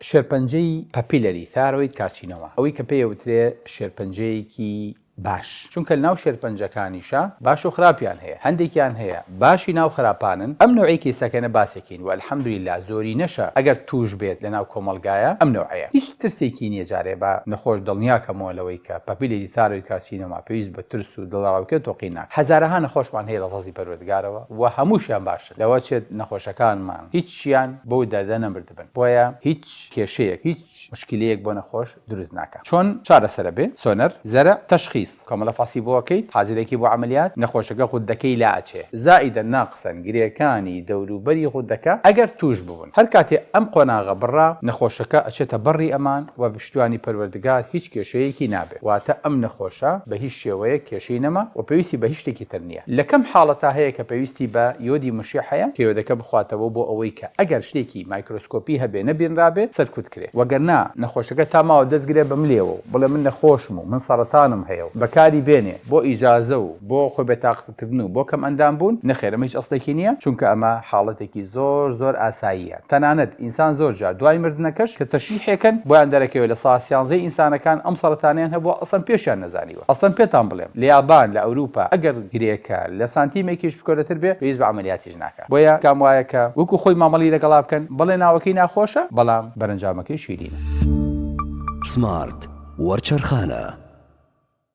شێرپەنجەی پەپیلەری ثایرۆید کارسینۆما ئەوەی کە پێی ئەوترێ شێرپەنجەیەکی باش چونکە ناو شێرپەنجەکانیشە باش و خراپیان هەیە هەندێکیان هەیە باشی ناو خراپانن ئەم نەوعەی کیسەکەنە باسێکین و الحمدللە زۆرینەشە ئەگەر توش بێت لە ناو کۆمەڵگایە ئەم نەوعەیە هیچ ترسێکی نیە جارێ با نەخۆش دڵنیا کەمەوە لەوەی کە پەپیلەری ثایرۆید کارسینۆما پێویست بە ترس و دڵەڕاوکێ و تۆقینناکات هەزارەها نەخۆشمان هەیە لە فەزڵی پەروەردگارەوە و هەموشیان باشن. لەوە چێت نەخۆشەکانمان هیچیان بەو دەردە نەمردبن بۆیە هیچ کێشەیەک هیچ مشکیلەیەک بۆ نەخۆش دروست ناکات چۆن چارەسەرە بێ سۆنەر زەرع تەشخیس کۆمەڵە فاسی بۆ ئەکەیت حازرێکی بۆ عەمەلیات نەخۆشەکە غوددەکەی لا ئەچێ زائیدەن ناقسەن گرێکانی دەوروبەری غوددەکە ئەگەر توش ببن هەر کاتێ ئەم قۆناغە بڕا نەخۆشەکە ئەچێتە بەڕی ئەمان وە بە پشتیوانی پەروەردگار هیچ کێشەیەکی نابێ. واتە ئەم نەخۆشە بە هیچ شێوەیەک کێشەی نەما و پێویستی بە هیچ شتێکی تر نییە. لە کەم حاڵەتا هەیە کە پێویستی بە یۆدی مشیع هەیە کە یۆدەکە بخواتەوە بۆ ئەوەی کە ئەگەر شتێکی مایکرۆسکۆپی هەبێ نەبینرابێ سەرکوت کرێ وەگەرنا نەخۆشەکە تا ماوە دەست گرێ بە ملێوە و بڵێ من نەخۆشم و من سەڕەتانم هەیە و بەکاری بێنێ بۆ ئیجازە و بۆ خۆ بێتاقەت کردن و بۆ کەمئەندام بوون، نەخێر ئەمە هیچ ئەسڵێکی نییە، چونکە ئەمە حاڵەتێکی زۆر زۆر ئاساییە، تەنانەت ئینسان زۆر جار دوای مردنەکەش کە تەشریحێکەن بۆیان دەرەکەوێت لە سا سیانزەی ئینسانەکان ئەم سەرەتانەیان هەبووە ئەسڵەن پێشیان نەزانیوە، ئەسڵەن پێتان بڵێم لە یابان لە ئەوروپا ئەگەر گرێکە لە سانتیمێکیش بکۆلەتر بێ پێویست بە عەمەلیاتیش ناکا بۆیە کام وایە کە وەکو خۆی مامەڵی لەگەڵا بکەن بەڵێ ناوەکەی ناخۆشە بەڵام بەرەنجامەکەی شیرینە. سمارت وەرچەرخانە.